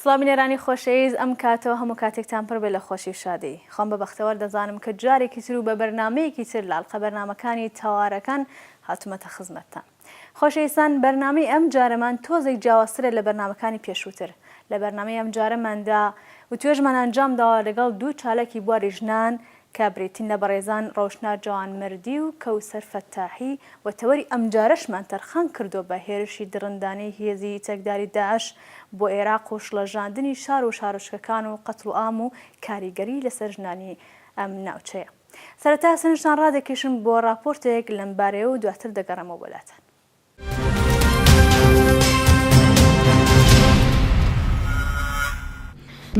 سڵاو بینەرانی خۆشەیز ئەم کاتەو هەموو کاتێکتان پڕ بێ لە خۆشی و شادی خۆم بە بەختەوەر دەزانم کە جارێکی تر و بە بەرنامەیەکی تر لە ئەڵقە بەرنامەکانی تەوارەکان هاتومەتە خزمەتتان خۆشەیستان بەرنامەی ئەم جارەمان تۆزێک جیاوازترە لە بەرنامەکانی پێشووتر لە بەرنامەی ئەم جارەماندا و توێژمان ئەنجام داوە لەگەڵ دوو چالاکی بواری ژنان کە بریتین لە بەڕێزان ڕۆشنا جوانمەردی و کەوسەر فەتاحی و تەوەری ئەمجارەشمان تەرخان کردووە بە هێرشی دڕندانەی هێزی چەکداری داعش بۆ ئێراق و شڵەژاندنی شار و شارۆچکەکان و قەتڵوعام و کاریگەری لەسەر ژنانی ئەم ناوچەیە. سەرەتا سەرنجتان ڕادەکێشم بۆ ڕاپۆرتێک لەمبارەیەو دواتر دەگەڕێمەوە بۆلاتان.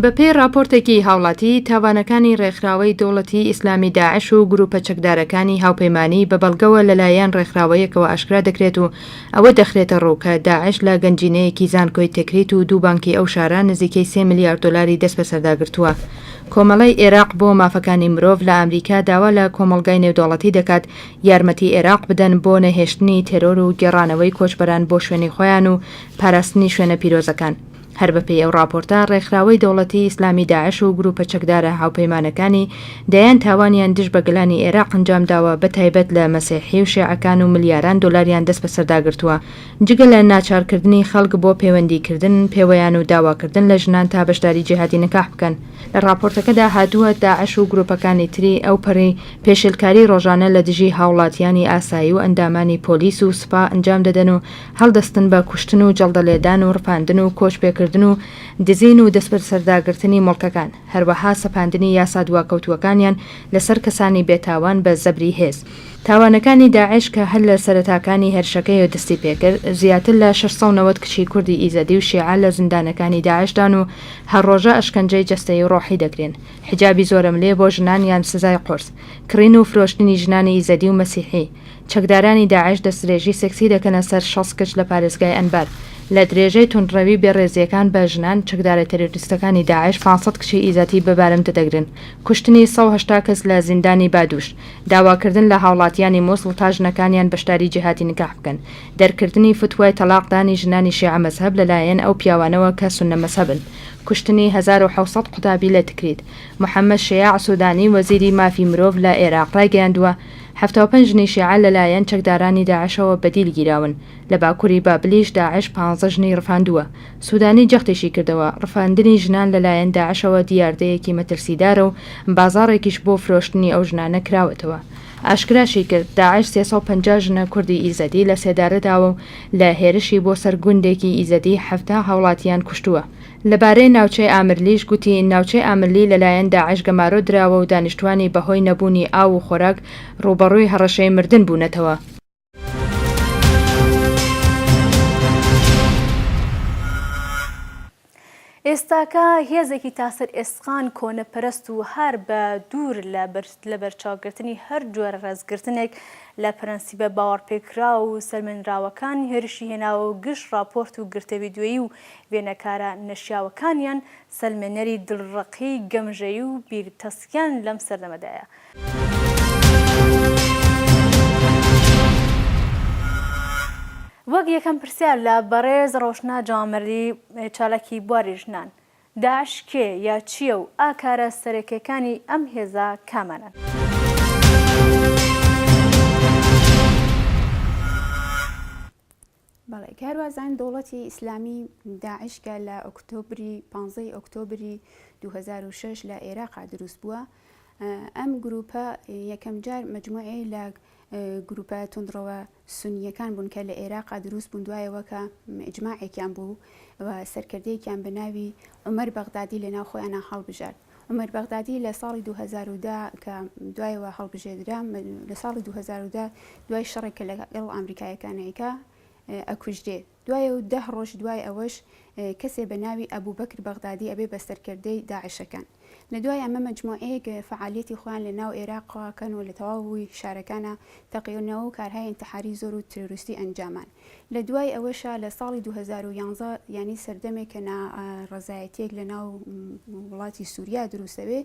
بەپێی ڕاپۆرتێکی هاوڵاتی، تاوانەکانی ڕێکخراوەی دەوڵەتی ئیسلامی داعش و گروپە چەکدارەکانی هاوپەیمانی بە بەڵگەوە لەلایەن ڕێکخراوەیەکەوە ئاشکرا دەکرێت و ئەوە دەخرێتەڕوو کە داعش لە گەنجینەیەکی زانکۆی تکریت و دوو بانکی ئەو شارە نزیکەی سێ ملیار دۆلاری دەستبەسەردا گرتووە. کۆمەڵەی ئێراق بۆ مافەکانی مرۆڤ لە ئامریکا داوا لە کۆمەڵگای نێودەوڵەتی دەکات یارمەتی ئێراق بدەن بۆ نەهێشتنی تێرۆر و گێڕانەوەی کۆچبەران بۆ شوێنی خۆیان و پاراستنی شوێنە پیرۆزەکان. هەر بەپێی ئەو ڕاپۆرتە، ڕێکخراوەی دەوڵەتی ئیسلامی داعش و گروپە چەکدارە هاوپەیمانەکانی دەیان تاوانیان دژ بە گەلانی ئێراق ئەنجام داوە بە تایبەت لە مەسیحی و شێعەکان و ملیاران دۆلاریان دەست بەسەردا گرتووە جگە لە ناچارکردنی خەڵک بۆ پەیوەندیکردن پێوەیان و داواکردن لە ژنان تا بەشداری جیهادی نکاح بکەن. لە ڕاپۆرتەکەدا هاتووە، داعش و گروپەکانی تری ئەو پەڕی پێشێلکاری ڕۆژانە لە دژی هاوڵاتیانی ئاسایی و ئەندامانی پۆلیس و سوپا ئەنجام دەدەن و هەڵدەستن بە کوشتن و جەڵدەلێدان و ڕفاندن و کۆچپێکردن و دزین و دەستبەسەرداگرتنی موڵکەکان، هەروەها سەپاندنی یاسا دواکەوتووەکانیان لەسەر کەسانی بێتاوان بە زەبری هێز. تاوانەکانی داعش کە هەر لە سەرەتاکانی هێرشەکەیەوە دەستی پێکرد، زیاتر لە شەش سەد و نەوەد کچی کوردی ئیزەدی و شیعە لە زیندانەکانی داعشدان و هەر ڕۆژە ئەشکەنجەی جەستەیی و ڕۆحی دەکرێن، حیجابی زۆرەملێ بۆ ژنان یان سزای قورس، کڕین و فرۆشتنی ژنانی ئیزەدی و مەسیحی. چەکدارانی داعش دەستدرێژی سێکسی دەکەنە سەر شەست کچ لە پارێزگای ئەنبار. لە درێژەی توندڕەوی بێڕێزییەکان بە ژنان، چەکدارە تێرۆریستەکانی داعش پانسەد کچی ئیزەدی بە بارمتە دەگرن، کوشتنی سەد و هەشتا کەس لە زیندانی بادوش، داواکردن لە هاوڵاتیانی موسڵ تا ژنەکانیان بەشداری جیهادی نکاح بکەن، دەرکردنی فتوای تەلاق دانی ژنانی شیعە مەزهەب لە لایەن ئەو پیاوانەوە کە سوننە مەزهەبن، کوشتنی هەزار و حەوت سەد قوتابی لە تکریت. محەمەد شیاع سودانی وەزیری مافی مرۆڤ لە ئێراق ڕایگەیاندووە، حەفتا و پەنج ژنی شیعە لە لایەن چەکدارانی داعشەوە بە دیل گیراون، لە باکوری بابلیش داعش پانزە ژنی ڕفاندووە، سودانی جەختیشی کردەوە، ڕفاندنی ژنان لەلایەن داعشەوە دیاردەیەکی مەترسیدارە و بازاڕێکیش بۆ فرۆشتنی ئەو ژنانە کراوەتەوە. ئاشکراشی کرد، داعش سێ سەد و پەنجا ژنە کوردی ئیزەدی لە سێدارە داوە و لە هێرشی بۆ سەر گوندێکی ئیزەدی حەفتا هاوڵاتییان کوشتووە. لەبارەی ناوچەی ئامرلیش گوتی، ناوچەی ئامرلی لەلایەن داعش گەمارۆ دراوە و دانیشتووانی بەهۆی نەبوونی ئاو و خۆراک ڕووبەڕووی هەڕەشەی مردن بوونەتەوە. ئێستاکە هێزێکی تاسەر ئێسقان کۆنەپەرست و هەر بە دوور لە لەبەرچاوگرتنی هەر جۆرە ڕێزگرتنێک لە پرەنسیبە باوەڕپێکراو و سەلمێنراوەکان هێرشی هێناوە و گشت ڕاپۆرت و گرتە ڤیدیۆیی و وێنەکارە نەشیاوەکانیان سەلمێنەری دڵڕەقی گەمژەیی و بیرتەسکیان لەم سەردەمەدایە وەک یەکەم پرسیار لە بەڕێز ڕۆشنا جامەلی چالاکی بواری ژنان، داعش کێ یا چییە و ئاکارە سەرەکیەکانی ئەم هێزە کامانەن؟ بەڵێ کاروازان دەوڵەتی ئیسلامی داعش کە لە ئۆکتۆبری پانزەی ئۆکتۆبری 2006 لە ئێراقا دروست بووە ئەم گروپە یەکەم جار مجموعی لە گروپە تونندڕەوە سنیەکان بوون کە لە ئێراقا دروست بوون دوایەوە کە ئجمماعێکیان بوو و سەرکردەیەکیان بە ناوی عمر بەغدادی لە ناو خۆیانە هەڵبژارد عومەر بەغدادی لە ساڵی دوو هەزار و دە کە دوایەوە هەڵبژێردرا، لە ساڵی دوو هەزار و دە دوای شەڕێک کە لەگەڵ ئامریکایەکان ئەیکا، ئەکوژرێ. دوای و دە ڕۆژ دوای ئەوەش کەسێ بە ناوی ئەبوبەکر بەغدادی ئەبێ بە سەرکردەی داعشەکان. لە دوای ئەمە مەجموعەیەک فەعالیەتی خۆیان لە ناو ئێراقەوە کەن و لە تەواوی شارەکانا تەقێونەوە و کارهای ئینتحاری زۆر و ترۆریستی ئەنجامان. لە دوای ئەوەشا لە ساڵی دوو هەزار و یانزە یانی سەردەمێک کە نا ڕەزایەتیەک لە ناو وڵاتی سووریا دروستەوێ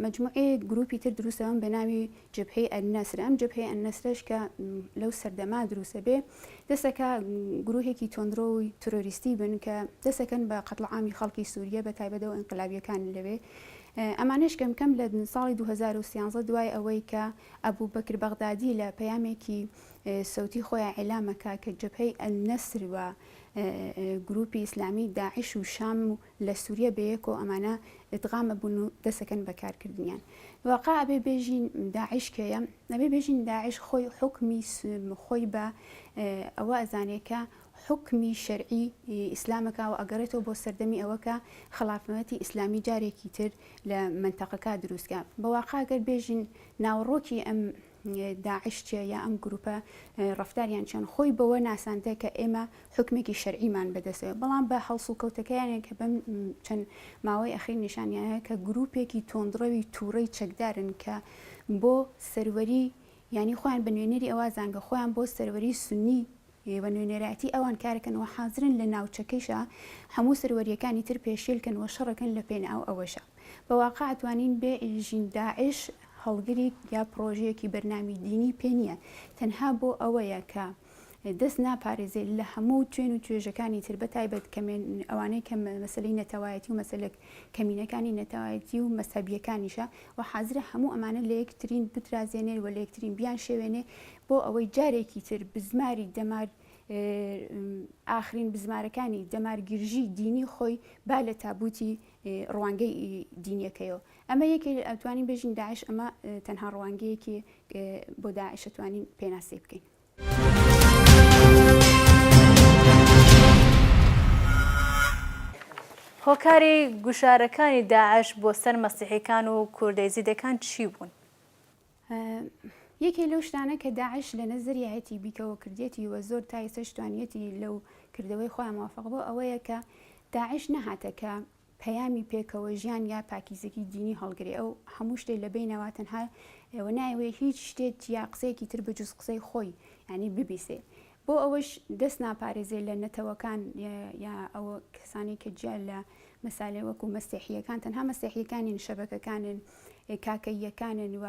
مجموعی گروپی تر دروستەوەم بە ناوی جبهەی ئەنەسر ئەم جبهەی ئەنەسرش کە لەو سەردەما دروستە بێ دەسەکە گروهێکی تۆندرۆی ترۆریستی بن کە دەسەکەن بە قەتڵعامی خەڵکی سووریە بە تایبەتەوە ئەنقلابیەکان لەوێ ئەمانش کەم کەم لە ساڵی 2013 دوای ئەوەی کە ئەبوو بەکر بەغدادی لە پەیامێکی سەوتی خۆیان ئیلام ئەکا کە جەبهەی ئەلنەسر و گروپی ئیسلامی داعش و شام و لە سوریە بەیەکۆ ئەمانە ئیدغام ئەبون و دەس ئەکەن بە کار کردنیان واقا ئەبێ بێژین داعش کێیە ئەبێ بێژین داعش خۆی حکمی خۆی بە ئەوە ئەزانێکە حکمی شەرعی ئیسلامەکە و ئەگەڕێتەوە بۆ سەردەمی ئەوەکە خلافەتی ئیسلامی جارێکی تر لە منتەقەکە دروستکە بەواقعگەر بێژین ناوەڕۆکی ئەم داعش چیە یا ئەم گروپە ڕەفتاریان چۆن خۆی بەوە ناساندە کە ئێمە حکمێکی شەرعیمان بەدەستەوە بەڵام بە هەڵس و کەوتەکەیانێک کە بەم چەند ماوەی ئەخیر نیشانیانە کە گروپێکی تۆندڕەوی تووڕەی چەکدارن کە بۆ سەروەری ینی خۆیان بە نوێنەری ئەوە زانگە خۆیان بۆ سەروەری سنی و نوێنەرایەتی ئەوان کارەکەن و حازرن لە ناوچەکەیشا هەموو سەروەرییەکانی تر پێشێل کەن و شەڕەکەن لە پێناو ئەوەشا بە واقع توانین بێ ژین داعش هەڵگریک یا پڕۆژەیەکی بەرنامی دینی پێ نییە تەنها بۆ ئەوەیە کە دەست ناپارێزێ لە هەموو توێن و توێژەکانی تر بە تایبەت کەمێن ئەوانەی کە مەسلەی نەتەوایەتی و مەسلک کەمینەکانی نەتەوایەتی و مەسەبیەکانیشە و حازرە هەموو ئەمانە لە یەکترین بترازێنێر و لە یەکترین بیان شێوێنێ بۆ ئەوەی جارێکی تر بزماری دەمار ئاخرین بزمارەکانی دەمارگیرژی دینی خۆی با لە تابوتی ڕوانگەی دینیەکەیەوە ئەمە یەکێ ئەتوانین بێژین داعش ئەمە تەنها ڕوانگەیەکی بۆ داعشتوانین پێناسی بکەین. هۆکاری گوشارەکانی داعش بۆ سەر مەسیحیکان و کوردەیزیدەکان چی بوون؟ یەکێ لەو شتانە کە داعش لە نەزەریایەتی بیکەوە کردێتی و زۆر تا ئێستەش توانیەتی لەو کردەوەی خۆیان موافق بوو ئەوەیە کە داعش نەهاتە کە پەیامی پێکەوە ژیان یا پاکیزەکی دینی هەڵگرێ ئەو هەموو شتێ لە بینەوە تەنها ئێوە نایوێ هیچ شتێت یا قسەیەکی تر بجوز قسەی خۆی ینی ببیسێ بۆ ئەوەش دەست ناپارێزێ لە نەتەوەکان یا ئەوە کەسانی کە جیا لە مەسالێ وەکو مەسیحیەکان تەنها مەسیحیەکانین شەبەکەکانن کاکەییەکانن و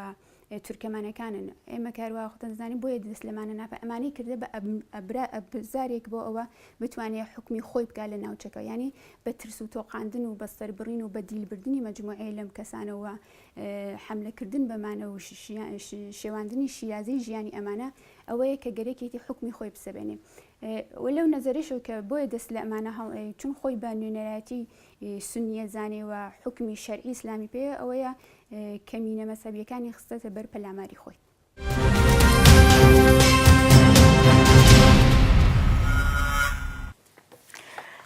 تورکەمانەکانن ئێمە کاروا خۆتەنزانانی بۆیە دەست لەمانە ناپە ئەمانەی کردە بە ئەبرا ئەبزارێک بۆ ئەوە بتوانێت حکومی خۆی بکە لە ناوچەکە ینی بە ترس و تۆقااندن و بەستەر بڕین و بە دیلبردننی مەجموعەیە لەم کەسانەوە حملەکردن بەمانە و شێواندنی شیازی ژیانی ئەمانە ئەوەیە کە گەرەکێتی حکومی خۆی بسەبێنێ و لەو نەزەرش کە بۆیە دەست لە ئەمانە هەڵ چون خۆی بە نوێنەرایەتی ی سونیە زانێ و حوکمی شەرعی ئیسلامی پێیە ئەوەیە کەمینە مەزهەبیەکانی خستەتە بەر پەلاماری خۆی.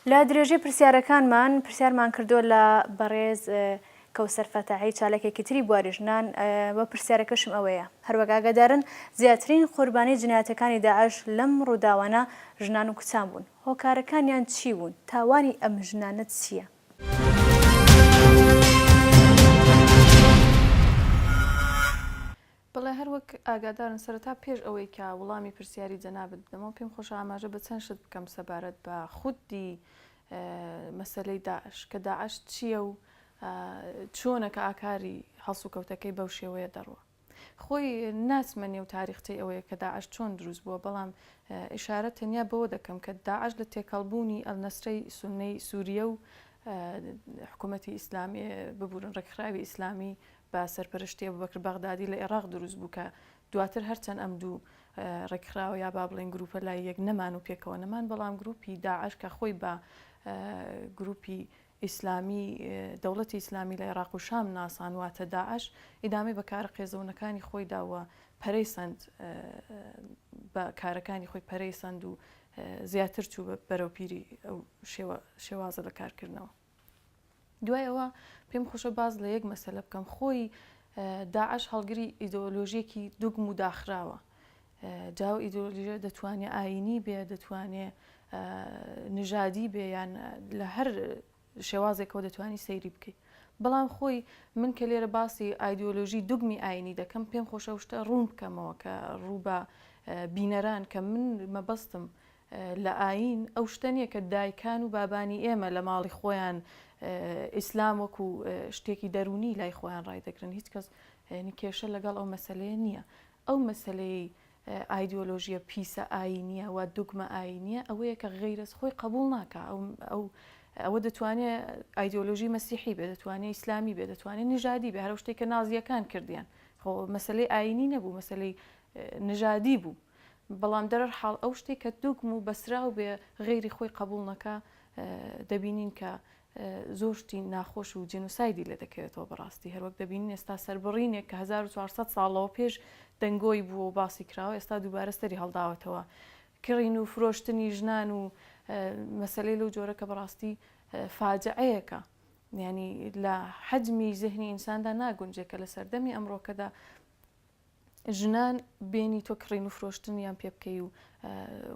لە درێژەی پرسیارەکانمان پرسیارمان کردووە لە بەڕێز کەوسەر فەتاحی چالکێکی تری بواری ژنان بە پرسیارەکەشم ئەوەیە هەروەک ئاگادارن زیاترین قوربانی جنایەتەکانی داعش لەم ڕووداوانە ژنان و کچان بوون هۆکارەکانیان چی بوون؟ تاوانی ئەم ژنانە چییە؟ بەڵێ هەر وەک ئاگادارن سەرەتا پێش ئەوەی کە وڵامی پرسیاری جەنابت بدەمەوە پێم خۆشە ئاماژە بە چەند شت بکەم سەبارەت بە خودی مەسەلەی داعش کە داعش چییە و چۆنە کە ئاکاری هەڵسوکەوتەکەی بەو شێوەیە دەڕوە. خۆی ناچمە نێو تاریختەی ئەوەی کە داعش چۆن دروست بووە، بەڵام ئیشارە تەنیا بەوە دەکەم کە داعش لە تێکەڵبوونی ئەلنەسرەی سوننەی سووریە و حکوومەتی ئیسلامی ببورن ڕێکخراوی ئیسلامی بە سەرپەرشتی ئەبوبەکر بەغدادی لە ئێراق دروست بوو کە دواتر هەرچەند ئەم دوو ڕێکخراوە یا با بڵێن گروپە لای یەک نەمان و پێکەوە نەمان بەڵام گروپی داعش کە خۆی بە گروپی ئیسلامی، دەوڵەتی ئیسلامی لە عێراق و شام ناسان، واتە داعش، ئیدامەی بە کارە قێزەونەکانی خۆی دا و پەرەی سەند بە کارەکانی خۆی پەرەی سەند و زیاتر چوو بە بەرەو پیری ئەو شێوازە لە کارکردنەوە. دوای ئەوە پێم خۆشە باز لە یەک مەسەلە بکەم، خۆی داعش هەڵگری ئیدۆلۆژیەکی دوگم و داخراوە. جا ئەو ئیدۆلۆژیە دەتوانێ ئایینی بێ، دەتوانێ نژادی بێ یان لە هەر شێوازێکەوە دەتوانی سەیری بکەی. بەڵام خۆی من کە لێرە باسی ئایدۆلۆژی دوگمی ئاینی دەکەم پێم خۆشە شتە ڕوون بکەمەوە کە ڕووبە بینەران کە من مەبەستم لە ئاین ئەو شتە نییە کە دایکان و بابانی ئێمە لە ماڵی خۆیان ئیسلام وەکو شتێکی دەرونی لای خۆیان ڕایدەگرن هیچ کەس نکێشە لەگەڵ ئەو مەسلەیە نییە ئەو مەسەلەیەی ئایدیۆلۆژییە پیسە ئایینییە وا دوگمە ئایینییە ئەوەیە کە غەیرەت خۆی قەبووڵ ناکا. ئەو ئەوە دەتوانێ ئایدیۆلۆژی مەسیحی بێ، دەتوانێ ئیسلامی بێ، دەتوانێ نژادی بێ، هەر ئەو شتەی کە نازییەکان کردیان خۆ مەسەلەی ئایینی نەبوو، مەسەلەی نژادی بوو. بەڵام دەرەرحاڵ ئەو شتەی کە دوگم و بەسراو بێ غەیری خۆی قەبووڵ نەکا دەبینین کە زۆر شتی ناخۆش و جینۆسایدی لێ دەکەوێتەوە بەڕاستی هەروەک دەبینین ئێستا سەربڕینێک کە هەزار و چوار سەد ساڵ لەوە پێش دەنگۆی بووە و باسی کراوە ئێستا دووبارە سەری هەڵداوەتەوە کڕین و فرۆشتنی ژنان و مەسەلەی لەو جۆرە کە بەڕاستی فاجعەیەکە یعنی لە حەجمی زهنی ئینساندا ناگونجێ کە لە سەردەمی ئەمڕۆکەدا ژنان بێنی تۆ کڕین و فرۆشتنیان پێ بکەی و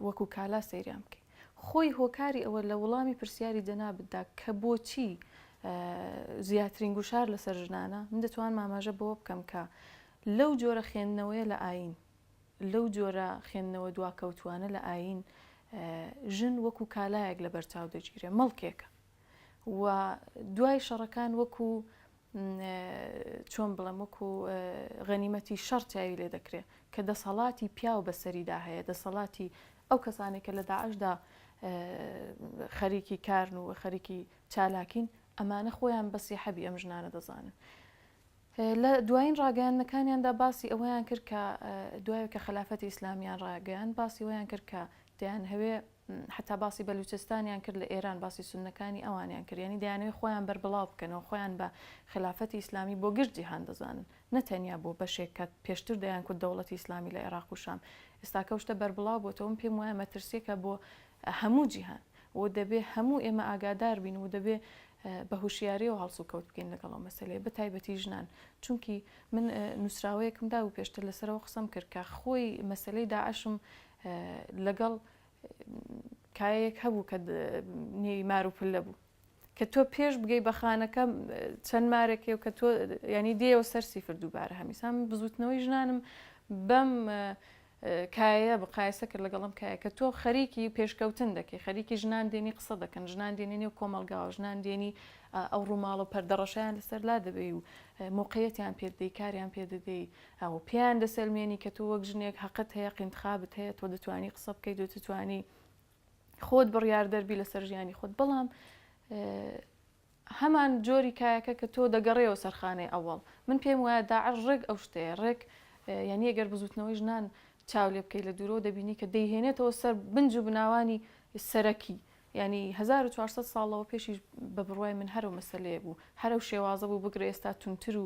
وەکو کالا سەیریان بکەی خۆی هۆکاری ئەوە لە وڵامی پرسیاری جەنابتدا کە بۆچی زیاترین گوشار لەسەر ژنانە من دەتوان ماماژە بەوە بکەم کە لەو جۆرە خوێندنەوەیە لە ئاین لەو جۆرە خوێندنەوە دواکەوتوانە لە ئاین ژن وەکو کالایەک لە بەرچاو دەگیرێ مەڵکێکە و دوای شەڕەکان وەکو چۆن بڵێم وەکو غەنیمەتی شەڕ چاوی لێ دەکرێت کە دەسەڵاتی پیاو بەسەریدا هەیە دەسەڵاتی ئەو کەسانێک کە لە داعشدا خەریکی کارن و خەریکی چالاکین ئەمانە خۆیان بەسی حەبی ئەم ژنانە دەزانن. لە دوایین ڕاگەیانەکانیاندا باسی ئەوەیان کرد کە دوای کە خلافەتی ئیسلامیان ڕاگەیان باسی ویان کرد کە دەیان هەوێ حەتا باسی بەلووچستانیان کرد لە ئێران باسی سوننەکانی ئەوانیان کرد یانی دەیانەوێت خۆیان بەربڵاو بکەنەوە خۆیان بە خلافەتی ئیسلامی بۆ گشت جیهان دەزانن نە تەنیا بۆ بەشێک کە پێشتر دەیان کوت دەوڵەتی ئیسلامی لە ئێراق و شام ئێستاکە ئەو شتە بەربڵاو بۆتەوە من پێم وایە مەترسیەکە بۆ هەموو جیهان و دەبێ هەموو ئێمە ئاگادار بین و دەبێ بە هوشیاریەوە هەڵسو کەوت بکەین لەگەڵ ئەو مەسلەیە بە تایبەتی ژنان چونکی من نووسراوەیەکم دا و پێشتر لەسەرەوە قسەم کرد کە خۆی مەسلەی داعشم لەگەڵ کایەیەک هەبوو کە نێوی مار و پلە بوو کە تۆ پێش بگەی بە خانەکە چەند مارێکی و کە تۆ ینی دێەوە سەر سیفر دووبارە هەمیسان بزوتنەوەی ژنانم بەم کایە بقایسە کرد لەگەڵم کایە کە تۆ خەریکی پێشکەوتن دەکەی خەریکی ژنان دێنی قسە دەکەن ژنان دێنی نێو کۆمەلگاوە ژنان دێنی ئەو ڕووماڵە پەردەڕەشیان لەسەر لا دەبێ و موقعەتیان پێدەی کاریان پێدەدەی ئەو پێیان دەسەلمێنی کە تۆ وەک ژنێک هەقت هەیە قینتخابت هەیە تۆ دەتوانی قسە بکەیت و تتوانی خۆت بڕیاردەربی لەسەر ژیانی خۆت بەڵام هەمان جۆری کایەکە کە تۆ دەگەڕێەوە سەرخانەی ئەوەڵ من پێم وایە داعش ڕێک ئەو شتەیە ڕێک یعنی ئەگەر بزوتنەوەی ژنان چاو لێ بکەیت لە دوورەوە دەبینی کە دەیهێنێتەوە سەر بنج و بناوانی سەرەکی یانی هەزار و چوار سەد ساڵ لەوە پێشیش بە بڕوای من هەرو مەسەلەیە بوو هەرو شێوازە بوو بگرە ئێستا تونتر و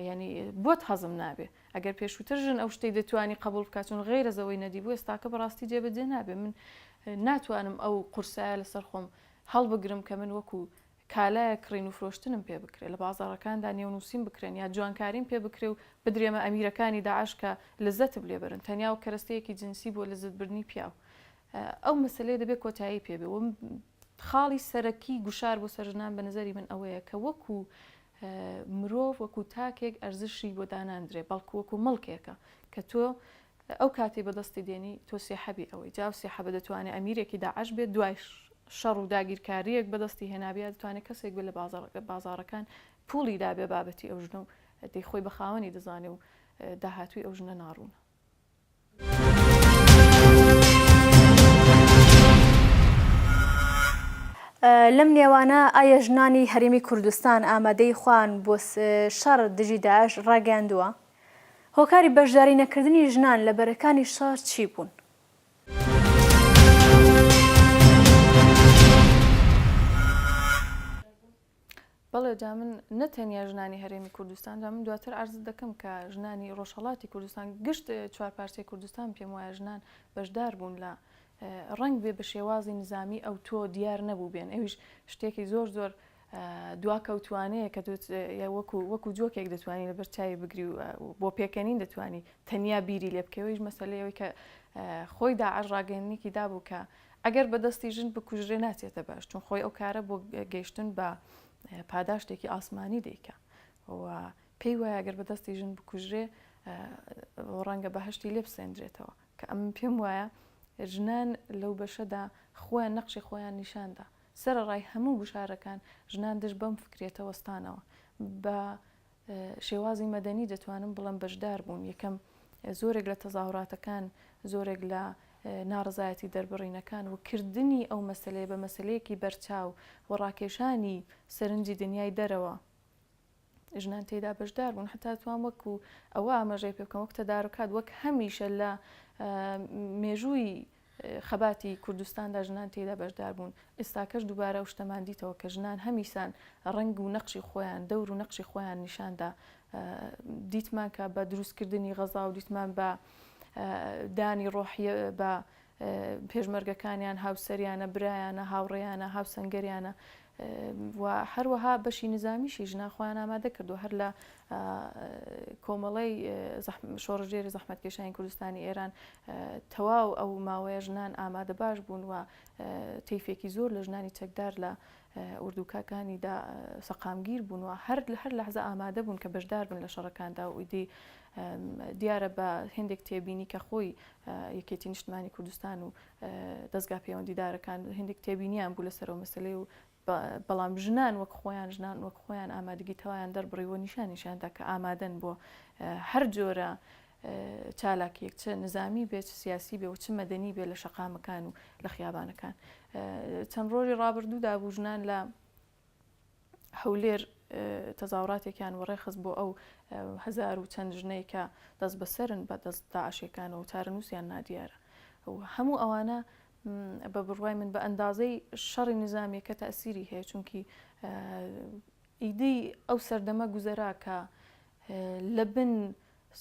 یانی بۆت هەزم نابێ ئەگەر پێشووتر ژن ئەو شتەی دەتوانی قبول بکاتون غیرە زەوەی نەدی بوو ئێستاکە بەڕاستی جێ بەجێ نابێ من ناتوانم ئەو قورسایە لەسەر خۆم هەڵبگرم کە من وەکو کالایە کڕین و فرۆشتنم پێ بکرێ لە بازاڕەکاندا نێو نووسین بکرێن یا جوانکاریم پێ بکرێ و بدرێمە ئەمیرەکانی داعش کە لەزەتم لێ بەرن تەنیا وەک کەرەستەیەکی جنسی بۆ لەزەت بردنی پیاو ئەو مەسەلەیە دەبێ کۆتایی پێ بێ و خاڵی سەرەکی گوشار بۆ سەر ژنان بە نظری من ئەوەیە کە وەکو مرۆڤ وەکو تاکێک ئەرزشی بۆ داناندرێ بەڵکو وەکو مڵکێکە کە تۆ ئەو کاتی بەدەستی دێنی تۆ سێحەبی ئەوەی جاو سێحەبە دەتوانێت ئەمیرێکی داعش بێت دوایش شەڕ و داگیرکارییەک بەدەستی هێنابێ یا دەتوانێ کەسێک بێ لە بازاڕەکان پووڵی دابێ بابەتی ئەو ژنە و دەی خۆی بە خاوەنی دەزانێ و داهاتووی ئەو ژنە ناڕوونە. لەم نێوانە ئایا ژنانی هەرێمی کوردستان ئامادەی خوان بۆ شەڕ دژی داعش ڕاگەیاندووە هۆکاری بەشداری نەکردنی ژنان لە بەرەکانی شەڕ چی بوون؟ بەڵێ جا من نە تەنیا ژنانی هەرێمی کوردستان جا من دواتر ئارز دەکەم کە ژنانی ڕۆژهڵاتی کوردستان گشت چوار پارچەی کوردستان پێم وایە ژنان بەشدار بوون لە ڕنگ بێ بە شێوازی نزامی ئەو تۆ دیار نەبوو بێن ئەویش شتێکی زۆر زۆر دواکەوتوانەیە کە وەکو وەکو جۆکێک دەتوانانی لە بەرچوی بگری و بۆ پێکەنین دەتوانانی تەنیا بیری لێ بکەوەیش مەسلەیەوەی کە خۆی داعش ڕاگەننیکی دابوو کە ئەگەر بەدەستی ژن بکوژرێ ناچێتە باش چون خۆی ئەو کارە بۆ گەیشتن بە پاداشتێکی ئاسمانی دیکە و پێی وایە گەر بە دەستی ژن بکوژرێ ڕەنگە بەهشتی لێ بسێندرێتەوە کە ئەم پێم وایە ژنان لەو بەشەدا خۆیان نەقشی خۆیان نیشاندا سەرەڕای هەموو گوشارەکان ژنان دژ بەم فکرەتە وەستانەوە. بە شێوازی مەدەنی دەتوانم بڵێم بەشدار بوون، یەکەم زۆرێک لە تەزاهوراتەکان، زۆرێک لە ناڕەزایەتی دەربڕینەکان و کردنی ئەو مەسەلەیە بە مەسەلەیەکی بەرچاو و ڕاکێشانی سەرنجی دنیای دەرەوە ژنان تێیدا بەشدار بوون حتا توان وەکو ئەوە ئاماژەی پێ بکەم وەک تەدارکات وەک هەمیشە لە مێژووی خەباتی کوردستاندا ژنان تێدا بەشدار بوون ئێستاکەش دووبارە و شتەمان دیتەوە کە ژنان هەمیسان ڕنگ و نەقشی خۆیان دەور و نەقشی خۆیان نیشاندا دیتمان کە بە دروستکردنی غەزا و دیتمان بە دانی ڕۆحیە بە پێشمەرگەکانیان، هاوسەریانە، برایانە، هاوڕێیانە، هاوسەنگەریانە و هەروەها بەشی نیزامیشی ژنان خۆیان ئامادە کردووە هەر لە کۆمەڵەی شۆڕژێری زەحمەتکێشانی کوردستانی ئێران تەواو ئەو ماوەیە ژنان ئامادە باش بوون و تیفێکی زۆر لە ژنانی چەکدار لە ئوردوکەکانی دا سەقامگیر بوون و هەر لە هەر لەحزە ئامادە بوون کە بەشدار بن لە شەڕەکاندا و ئیدی دیارە بە هندێک تێبینی کە خۆی یەکێتی نیشتمانی کوردستان و دەستگا پەیوەندیدارەکان هندێک تێبینیان بوو لەسەرەوە مەسلەی و بەڵام ژنان وەک خۆیان ژنان وەک خۆیان ئامادەگی تەوایان دەربڕیوە نیشانیشاندا کە ئامادەن بۆ هەر جۆرە چالاکییەک چ نزامی بێت، چ سیاسی بێت و چ مەدەنی بێت لە شەقامەکان و لە خیابانەکان. چەند ڕۆژی ڕابردوودا بوو ژنان لە هەولێر تەزاوڕاتێکیان وەڕێخست بۆ ئەو هزار و چەند ژنەی کە دەست بەسەرن بە دەست داعشەکانەوە و چارەنووسیان نادیارە. هەموو ئەوانە بە بڕوای من بە ئەندازەی شەڕی نزامیەکە تەسیری هەیە چونکی ئیدی ئەو سەردەمە گوزەرا کە لە بن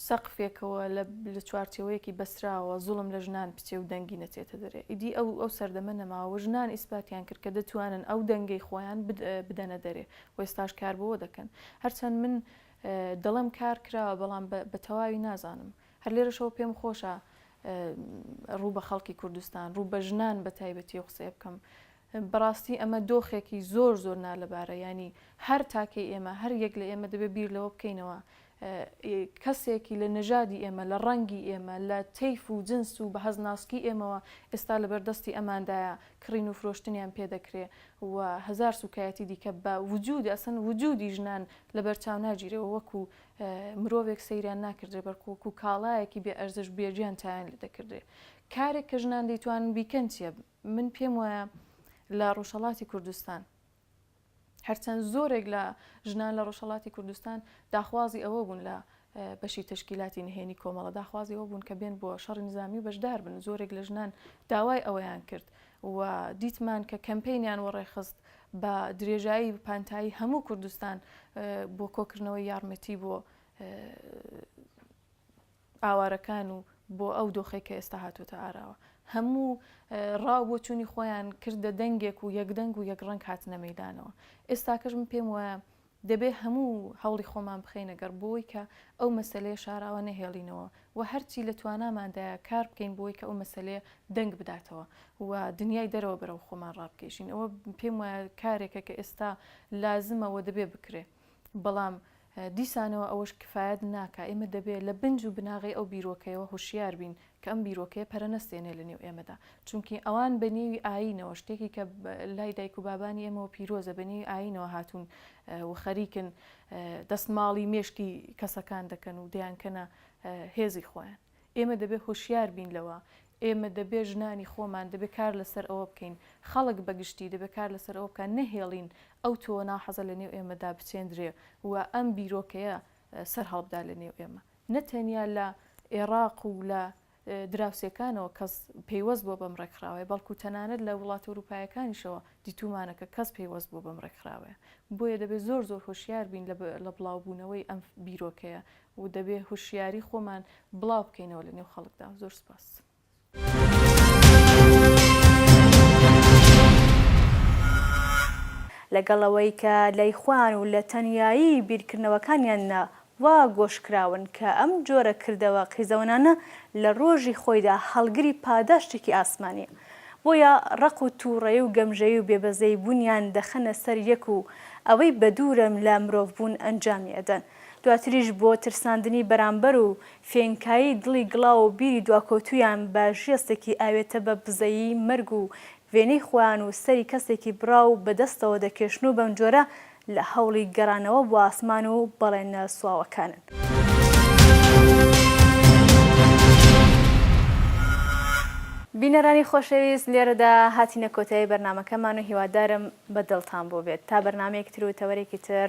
سەقفێکەوە لە لە چوارچێوەیەکی بەستراوەوە زوڵم لە ژنان بچێ و دەنگی نەچێتە دەرێ ئیدی ئەو ئەو سەردەمە نەماوە و ژنان ئیسپاتیان کرد کە دەتوانن ئەو دەنگەی خۆیان بد بدەنە دەرێ و ئێستاش کار بەوە دەکەن هەرچەند من دەڵێم کار کراوە بەڵام بە بە تەواوی نازانم هەر لێرەشەوە پێم خۆشە ڕوو بە خەڵکی کوردستان ڕوو بە ژنان بە تایبەتی و قسەیە بکەم بەڕاستی ئەمە دۆخێکی زۆر زۆر نالەبارە یانی هەر تاکەی ئێمە هەر یەک لە ئێمە دەبێ بیر لەوە بکەینەوە کەسێکی لە نەژادی ئێمە لە ڕەنگی ئێمە لە تەیف و جنس و بەهەز ناسکی ئێمەوە ئێستا لەبەر دەستی ئەماندایە کڕین و فرۆشتنیان پێ دەکرێ و هەزار سوکایەتی دیکە بە وجود ئەسن وجودی ژنان لەبەر چاو ناگیرێەوە وەکو مرۆڤێک سەیریان ناکردێ بەرکو وەکو کاڵایەکی بێ ئەرزش بێگیان تایان لێ دەکردێ کارێک کە ژنان دەیتوانن بیکەن چیە من پێم وایە لە ڕۆژهەڵاتی کوردستان هەرچەند زۆرێک لە ژنان لە ڕۆژهڵاتی کوردستان داخوازی ئەوە بوون لە بەشی تشکیلاتی نهێنی کۆمەڵە داخوازی ئەوە بوون کە بێن بۆ شەڕی نزامی و بەشدار بن زۆرێک لە ژنان داوای ئەوەیان کرد و دیتمان کە کەمپینیان وەڕێخست بە درێژایی پانتایی هەموو کوردستان بۆ کۆکردنەوەی یارمەتی بۆ ئاوارەکان و بۆ ئەو دۆخەی کە ئێستا هاتۆتە ئاراوە هەموو ڕا و بۆچوونی خۆیان کردە دەنگێک و یەک دەنگ و یەک ڕەنگ هاتنە مەیدانەوە ئێستاکەش من پێم وایە دەبێ هەموو هەوڵی خۆمان بخەینە گەڕ بۆی کە ئەو مەسەلەیە شاراوە نەهێڵینەوە و هەرچی لە تواناماندایە کار بکەین بۆی کە ئەو مەسەلەیە دەنگ بداتەوە و دنیای دەرەوە بەرەو خۆمان ڕابکێشین ئەوە پێم وایە کارێکە کە ئێستا لازمە و دەبێ بکرێ. بەڵام دیسانەوە ئەوەش کفایەت ناکا، ئێمە دەبێ لە بنج و بناغەی ئەو بیرۆکەیەوە هوشیار بین کە ئەم بیرۆکەیە پەرە نەستێنێ لە نێو ئێمەدا، چونکی ئەوان بە نێوی ئایینەوە، شتێکی کە لای دایک و بابانی ئێمەوە پیرۆزە، بە نێوی ئایینەوە هاتوون و خەریکن دەستماڵی مێشکی کەسەکان دەکەن و دەیانکەنە هێزی خۆیان. ئێمە دەبێ هۆشیار بین لەوە، ئێمە دەبێ ژنانی خۆمان دەبێ کار لەسەر ئەوە بکەین، خەڵک بە گشتی دەبێ کار لەسەر ئەوە بکا نەهێڵین ئەو تۆوە ناحەزە لە نێو ئێمەدا بچێندرێ و ئەم بیرۆکەیە سەر هەڵبدا لە نێو ئێمە. نە تەنیا لە ئێڕاق و لە دراوسێکانەوە کەس پەیوەست بووە بەم ڕێکخراوەیە، بەڵکوو تەنانەت لە وڵاتە ئورووپایەکانیشەوە دیتوومانە کە کەس پەیوەست بووە بەم ڕێکخراوەیە. بۆیە دەبێ زۆر زۆر هۆشیار بین لە بڵاوبوونەوەی ئەم بیرۆکەیە و دەبێ هوشیاری خۆمان بڵاو بکەینەوە لە نێو خەڵکدا زۆر سپاس. لەگەڵ ئەوەی کە لای خۆیان و لە تەنیایی بیرکردنەوەکانیاندا وا گۆش کراون کە ئەم جۆرە کردەوە قیزەونانە لە ڕۆژی خۆیدا هەڵگری پاداشتێکی ئاسمانیە بۆیە ڕق و توڕەیی و گەمژەیی و بێبەزەیی بوونیان دەخەنە سەر یەک و ئەوەی بەدوورن لە مرۆڤ بوون ئەنجامی ئەدەن. دواتریش بۆ ترساندنی بەرامبەر و فێنکایی دڵی گڵاو و بیری دواکەوتوویان بە ژێستێکی ئاوێتە بە بزەیی مەرگ و وێنەی خۆیان و سەری کەسێکی بڕاو بە دەستەوە دەکێشن و بەمجۆرە لە هەوڵی گەڕانەوە بۆ ئاسمان و بەڵێنە سواوەکانن. بینەرانی خۆشەویست لێرەدا هاتینە کۆتایی بەرنامەکەمان و هیوادارم بە دڵتان بووبێت تا بەرنامەیەکتر و تەوەرێکی تر